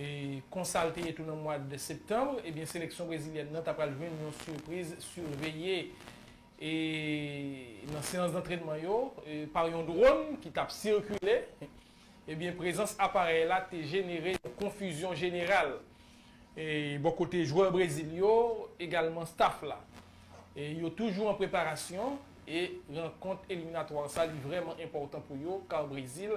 E konsa l te ye tou nan mwad septanm, ebyen seleksyon brezilyèn nan ta pral jwenn yon sipriz sirveye e nan seyans dantrenman yo pa yon dron ki tap sikile, ebyen prezans aparèy la te jenere yon konfizyon jeneral e bò kote jwè Brezil yo egalman staf la e yo toujou an preparasyon e rankont eliminatwa sa li vrèman enpòtan pou yo kar Brezil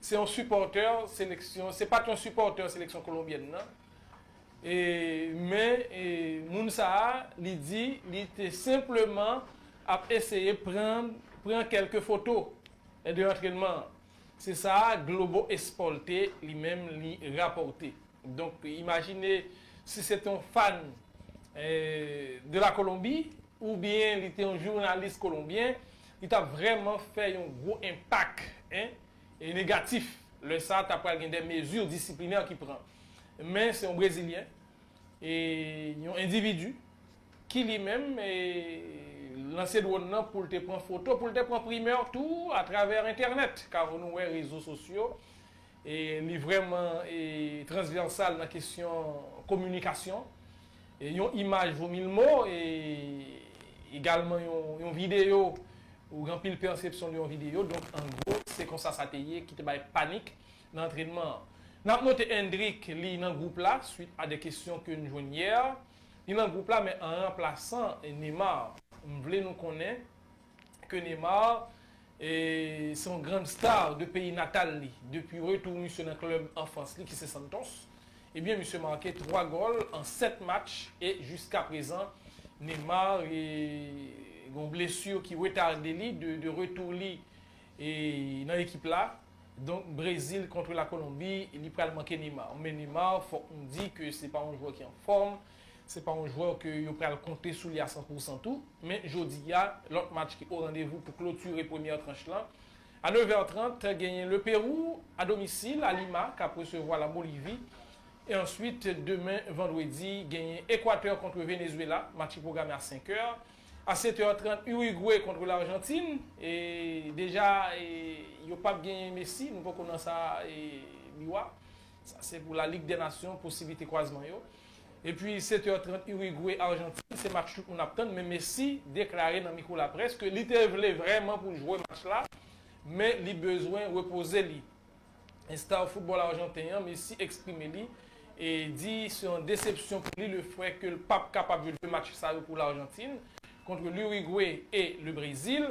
Se yon sipòtè seleksyon, se pat yon sipòtè seleksyon kolonbyèn nan, men moun sa a li di li te senpleman ap eseye pran kèlke foto de antrenman an. Se sa Globo Esporte li menm li rapòte. Donk imajine si se te yon fan de la kolonbi ou byen li te yon jounalis kolonbyen li tap vreman fè yon gwo enpak negatif lè sa ta pral gen de mezi disiplinè ki pran men se yon brezilyen e yon endividu ki li menm lanse dwòn nan poul te pran foto poul te pran primè tou atravè entènèt kawo nou wè rezo sosyo E li vrèman transvèsal nan kesyon kominikasyon. Yon imaj vo mil mo e egalman yon videyo ou gen anpil pèsepsyon de yon videyo. Donk an gwo se konsa sa te ye ki te bay panik nan antrenman an. N ap note Endrick li nan gwoup la swit a de kesyon ke n jwenn yè. Li nan gwoup la men an ranplasan Neymar. M vle nou konnen ke Neymar se yon grand star de peyi natal li depi retou misye nan klub anfans li ki se Santos ebyen misye make 3 gòl an 7 match e jiska prezan Neymar gon blessure ki retarde li de retou li nan ekip la donk Brezil kontre la Colombie li pral manke Neymar men Neymar fòk nou di ke se pa yon jwè ki anfòm. Se pa yon jwè ke yo pral konte sou li a san pou san tou, men jodi a, lòt match ki o randevou pou klotire premyè tranch lan. A nevè trant, genyen Le Pérou, a domisil, a Lima, k ap resevwa La Bolivi. E answit, demen vandredi, genyen Ekwatè kontre Venezwela, match ki pwograme a senkè. A setè trant, Urigwe kontre Larjantin. E deja, yo p ap genyen Messi, nou poko nan sa, Biwa. Sa se pou La Lig dè Nasyon, posiblite kwazman yo. Epi 7 heures 30 Uruguay Argentine se match tout moun ap tann men Messi deklare nan miko laprès ke li te vle vrèman pou l jwe match la men li bezwen repoze li. Star football arjanten an Messi eksprime li e di se yon desepsyon pou li le fè ke l pap kapab jwe 2 match sa yo pou L'Argentine kontre l'Uruguay e le Brésil.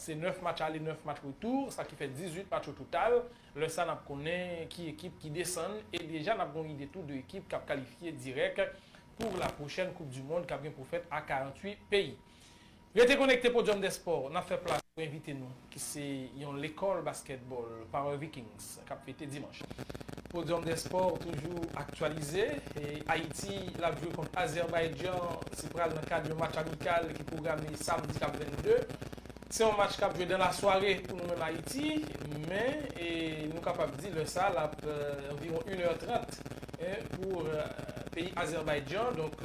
Se 9 match ale 9 match retour sa ki fè 18 match o total, lè sa nap konnen ki ekip ki desann e deja nap gen yon ide tou de ekip kap kalifye dirèk pou la pwochèn koup du mond kap gen pou fèt a 48 peyi. Rete konekte Podium des sports nap fè plas pou envite nou ki se yon lekòl baskètbòl Power Vikings. k ap fete dimanch. Podium des sports toujou aktyalize. Ayiti l ap jwe kont Azerbaydjan, se pral nan kad yon match amikal ki pwograme samdi k ap 22. Se yon match k ap jwe dan lasware pou nou menm Ayiti, men nou kapab di lè sa l ap anviwon 1 è 30 pou peyi Azerbaydjan. Donk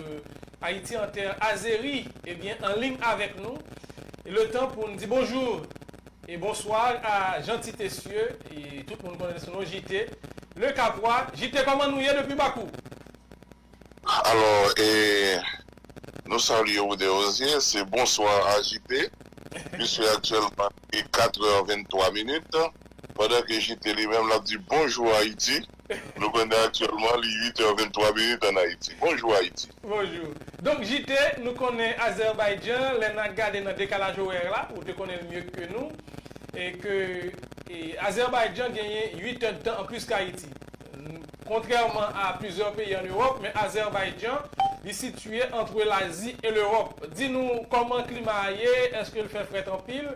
Ayiti an tè azeri, ebyen an ling avèk nou. Letan pou n di bonjou! E bonsoir a Jeanty Tessieu tout moun konnen sou non JT le capois JT kòman nou ye depi bakou. Alò e Nou salye ou Derosier se bonsoir a JT puisque actuellement li 4 heures 23 minutes pendant que JT li menm lap di bonjour Haïti. Nou konnen aktyèlman li 8 è 23 minit an Ayiti. Bonjou Ayiti! Bonjou! Donk JT, nou konnen Azerbaïdjan, lè na gade nan dekalaj orèr la, ou te konnen l mye ke nou, e ke Azerbaïdjan genyen 8 è dtan an plis k Ayiti. Kontrèman a plizyè peyi an Ewòp, men Azerbaïdjan, li sitye antre l Azi e l Ewòp. Di nou kòman klima a ye, èske l fè frèt anpil,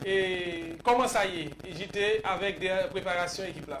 e kòman sa ye JT avèk dèyè preparasyon ekip la?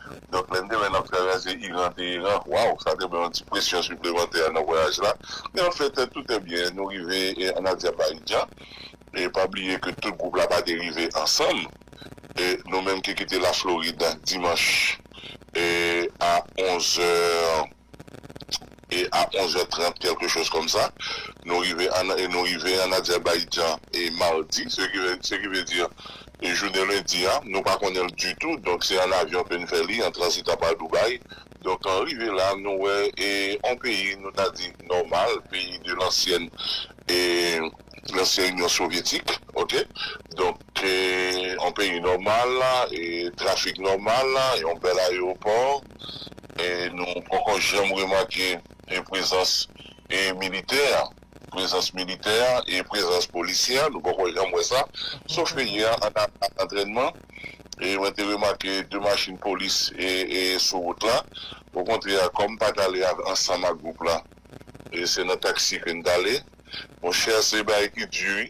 Donk lè n te wè n ap travèse Iran Teheran, waww sa te ban yon ti presyon siplemantè nan vwayaj la. Men anfèt tout è byen, nou rive an Adyabaijan. E pa bliye ke tout gwoup la pa te rive ansanm. E nou menm ki kite Laflorid dimanch a 11 è. e a 11 è 30 kèlke choz kòm sa, nou rive an e nou rive an Azerbaijan e mardi, se ki se ki vle di jounen lendi a, nou pa konnen l ditou, donk se an avyon ke n fè li, an transitan pa Dubai, donk an rive la nou wè e on peyi nou ta di nòmal, peyi de lansyèn e lansyen Inyon Sovyetik ok, donk e on peyi nòmal e trafik nòmal e on bèl ayewopò. nou poko janm remake prezans militè a, prezans militè a e prezans polisye a, nou poko janm wè sa, sof ke yè an nan antrènman, mwen te remake 2 machin polis sou wout la, okontrè kòm m pa t ale ansanm ak gwoup la, se nan taksi ke n t ale, monchè se bagay ki di wi.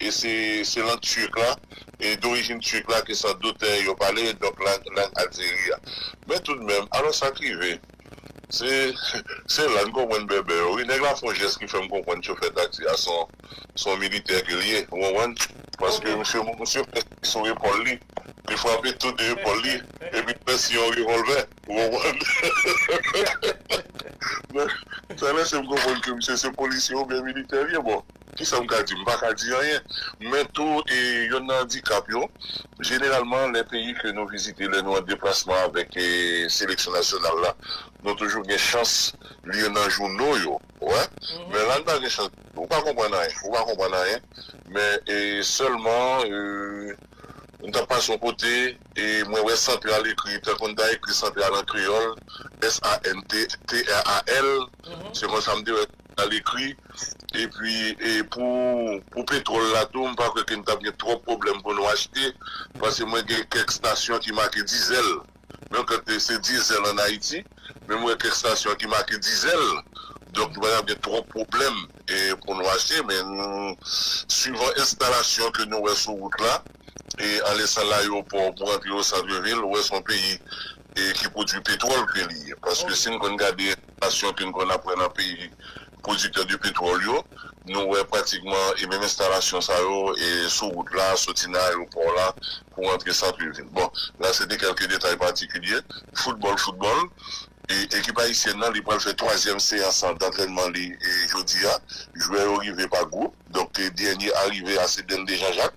e se se lang turque la, e dorijin turque la ke san dout yo pale, donk lang lang Algérie a. Men tou de menm, alò sa k rive, se se la n konprann bèbè yo wi, nèg la fè yon jès ki fè m konprann chofè taksi a son son militè ke l ye, ou konprann, paske misye misye fè siy sou epòl li, li frape tou de epòl li, epi l fè siy yon revòlvè, ou konprann, men sa lèse m konprann ke misye se polisye oubyen militè l ye, bon. Kisa m ka di? M pa ka di anyen. Men tou, e yonn nan andikap yo, jeneralman lè peyi ke nou vizite, lè nou an deplasman avèk seleksyon nasyonal la, nou toujou gen chans li yo nan jouno yo, ou wè. Men la n pa gen chans ditou. Ou pa konprann anyen. Ou pa konprann anyen. Men e sèlman e m t ap pase yon kote e mwen wè Santral ekri tankou n ta ekri Santral an kreyòl, s a n t t r a l. Se konsa m te wè a lekri epi pou pou petròl la tou m pa kwè ke n tap gen twòp pwoblèm pou nou achte pase mwen gen kèk stasyon ki make dizèl menm ke te se dizèl an Ayiti men m wè kèk stasyon ki make dizèl donk nou pa tap gen twòp pwoblèm e pou nou achte men swivan enstalasyon ke nou wè sou wout la e alè sa l ayewopò pou rantre osantr vil ou wè s on peyi e ki pwodui petròl ke li ye paske si n konn gade. Enstalasyon ke n konn ap wè nan peyi pwodiktè de petwòl yo, nou wè pratikman e menm enstalasyon sa yo e sou wout la, soti nan ayewopò la pou antre santre vil. Bon, la se te kèlke detay patikilye. Foutbòl, foutbòl. E ekip ayisyèn nan li pral fè twazyèm seyans dantrènman li jodi a. Jwè yo rive pa gwoup, donk dènye arive a se Dende Janjak.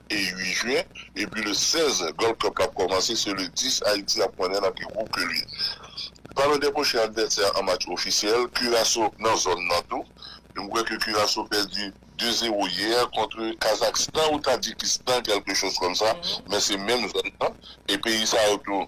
e 8 jwen epi le 16 Gold Cup la ap kòmanse se le 10 Ayiti ap konnen nan ki gwoup ke li ye. Palan de pwochen advèsè an match ofisyèl, Kiraso nan zòn nan tou. M kwè ke Kiraso pèdi 2 zero yè kontre Kazakstan ou Tadjikistan kèlke choz kòm sa men se menm zòn nan e peyi sa yo tou.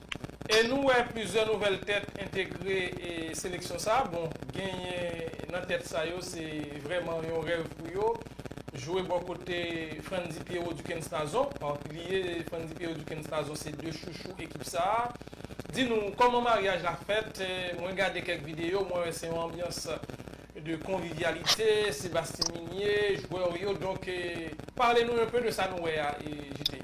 E nou wè plizyè nouvèl tèt entegre seleksyon sa, bon genyen nan tèt sa yo se vrèman yon rèv pou yo jwe bò kote Frantzy Pierrot Duckens Nazon, bliye Frantzy Pierrot Duckens Nazon se 2 chouchou ekip sa, di nou kòman maryaj la fèt, mwen gade kèk videyo mwen wè se yon anbyans de konvivyalite, Sébastien Migné, jwè w yo donk pale nou enpe de sa nou wè a JT.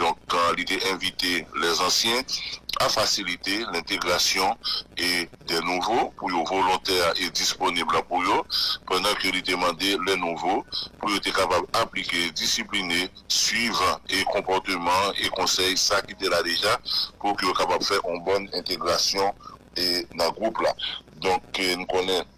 donk li te envite lèzansyen a fasilite lentegrasyon e dè nouvo pou yo volontè e disponib la pou yo, pandan ke li te mande lè nouvo pou yo te kapab aplike, disipline, swiv e konpòteman e konsèy sa ki te la deja pou ke yo kapab fè yon bòn entegrasyon e nan gwoup la. Donk n konnen.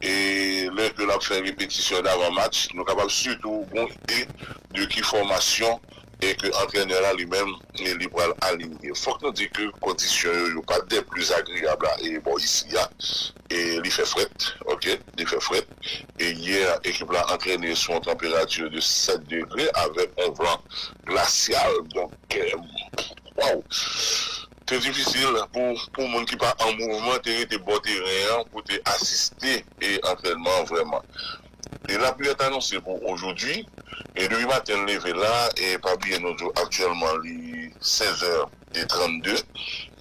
e lè ke lap fè repetisyon davan match, nou kapab sitou gon ide de ki fòmasyon e ke antrenè la li menm li pral alinye. Fòk nou di ke kondisyon yo, yo pa des plus agreables a e bò isi a, e li fè frèt ok, li fè frèt e yè ekip la antrene sou yon tanperati de 7 degre avèk yon van glasyal donk waww. Te difisil pou pou moun ki pa an mouvman te rete bò teren an pou te asiste e antrènman an vrèman. E laplui a t anonse pou ojodui e depi maten leve la e pa bliye nou di w aktyèlman li 16 è e 32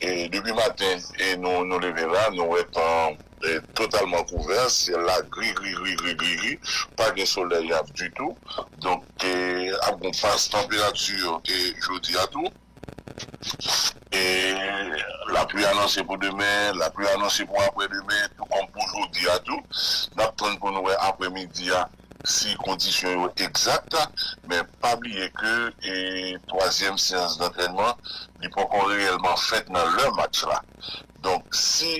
e depi maten e nou nou leve la nou wè tan an totalman kouvè syèl la gri gri gri gri gri gri pa gen solèy ap ditou donk ap gon pas tanperati e jodi a tou. Lapli anonse pou demen, lapli anonse pou aprè demen, tou kòm pou jodi a tou. N ap tann pou nou wè aprè midi a si kondisyon yo egzat. Men pa bliye ke twazyèm seyans dantrènman li poko reyèlman fèt nan lè match la. Donk si.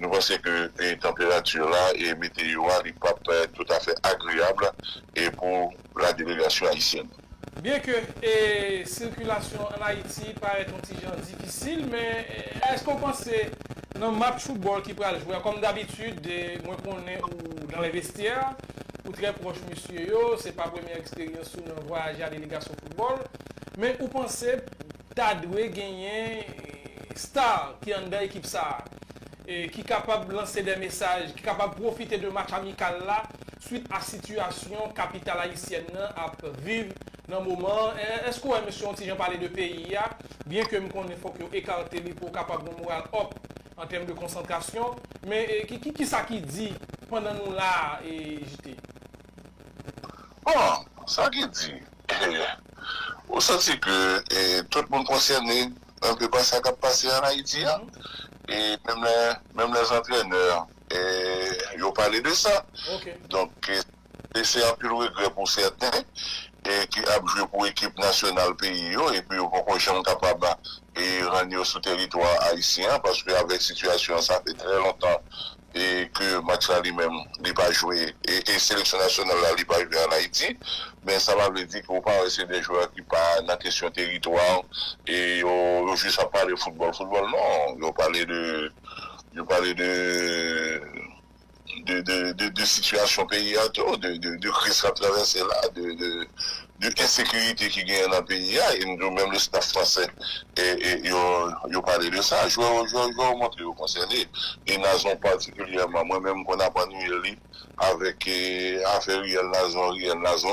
Nou panse ke tanperati la e meteyo a li pap toutafè agreyab pou la delegasyon ayisyèn. Byen ke sikilasyon an Ayiti parèt yon ti jan difisil, men èske ou panse nan match foutbòl ki pral jwe a, kòm dabitid mwen konnen ou dans les vestiaires, ou trè pwòch mesye yo, se pa premyè eksperyans ou nan vwayaje a delegasyon foutbòl, men ou panse Ta dwe genyen star ki anndan ekip sa a, ki kapab lanse dè mesaj, ki kapab pwofite de match amikal la swit a sitiyasyon kapital ayisyèn nan ap viv nan moman an. Èske w wè mesye yon ti jan pale de peyi a, byen ke m konnen fòk yo ekarte li pou yo kapab gen moral up an tèm de konsantrasyon. Men ki sa ki di pandan nou la a JT? Bon, sa ki di, Ou santi ke tout moun konsène anpe pa sa k ap pase an Ayiti a? Menm lè zantrenè yo pale de sa. Donk, se anpil regrè pou sèten ki ap jwe pou ekip nasyonal peyi yo epi yo poko janm kapab rann yo sou teritwa ayisyen an paske avèk sitiyasyon an sa fè trè lontan e ke match la li menm li pa jwe e seleksyon nasyonal la li pa jwe an Ayiti men sa pa vle di ke ou pa wè se de jwè ki pa nan kesyon teritwa e yo jis ap pale foutbòl foutbòl non yo pale de yo pale de de de de sitiyasyon peyi a tou de kriz kap travèse la de de de ensekirite ki genyen nan peyi a, e m di w menm le staff fransè yo pale de sa, jwè yo jwè, jwè yo montre yo konsène, e Nazon patikilyèman, mwen menm m konn ap annwiye li avèk afè riyèl Nazon, riyèl Nazon.